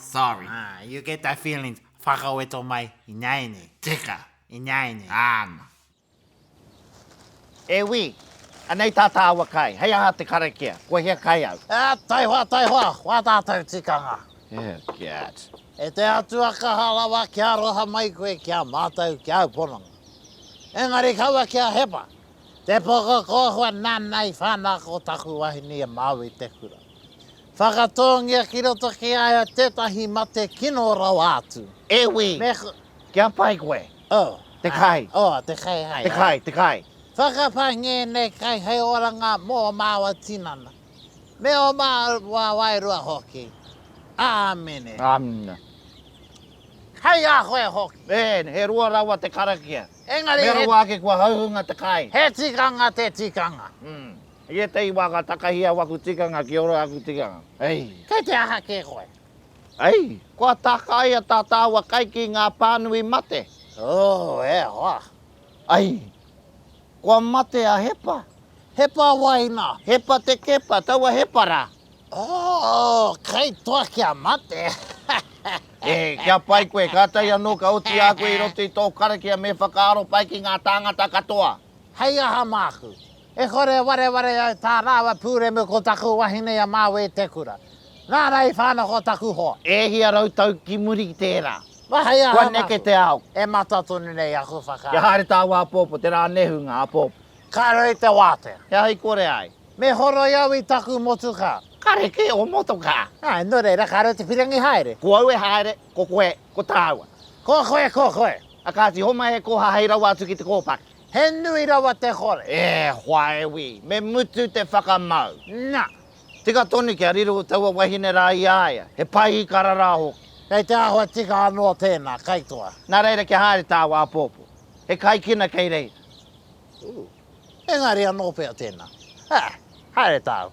Sorry. Ah, you get that feelings. Whakaweto mai, ināianei. Tika, ināianei. Āna. E wī! Anei tā tāua kai. Hei aha te karakia? Ko hea kai au? Ā, taihoa, taihoa, wā tātou tikanga? Oh, God. E te Atua kaha rawa kia aroha mai koe ki a mātou, ki āu pononga. Engari kaua ki a Hepa, te poko kōhua nāna i whānako taku wahine i a Māui te kura. Whakatōngia ki roto ki a ia tētahi mate kino rawa atu. E wī! Me. Kia pai koe. Oh. Te kai. Oh, te kai hai. Te kai, te kai. Whakapai ngēnei kai hei oranga mō māua tinana, me ō māua wairua hoki. Āmine. Āmine. Hei a koe hoki. E, he rua rawa te karakia. Engari he. Me rawa ake kua hauhunga te kai. He tikanga te tikanga. Mm. I ētahi wā ka takahi au aku tikanga ki ora aku tikanga. Ei! Kei te aha kē koe? Ei! Kua tākaia tā tāua kai ki ngā pānui mate? Oo, e hoa! Ei! Kua mate a Hepa. Hepa wai nā? Hepa te Kepa, taua Hepa rā. Oo, kei toa kia mate! E, kia pai koe, kātahi anō ka oti a koe i roto i tō karakia me whakaaro pai ki ngā tāngata katoa. Hei aha māku? E kore e wareware ai tā rāua pūremu ko taku wahine i a Māui-te-kura. Nāna i whānako taku hoa. E hia rau tau ki muri i tērā? Mā hei aha Kua neke te ao? E mata tonu nei aku whakaaro. Kia haere tāu āpōpō, tērā nehu ngā āpōpō. Ka rei te wātea. He aha i kore ai? Me horoi au i taku motokā. Kare kē ō motokā. Ā, nō reira, kāre au te whirangi haere. Ko au e haere, ko koe, ko tāua. Ko koe, ko koe. A kāti, homai e kōha hei rawa atu ki te kōpaki. He nui rawa te kore. E hoa e wi, me mutu te whakamau. Na! Tika tonu kia riro taua wahine ra i a ia. He pai ikara ra hoki. Kei te ahua tika ano tena, kaitoa. Na reira kia haere taua apopo. He kaikina kei reira. Ooh. Engari ano pea tena. Ah! Haere tau.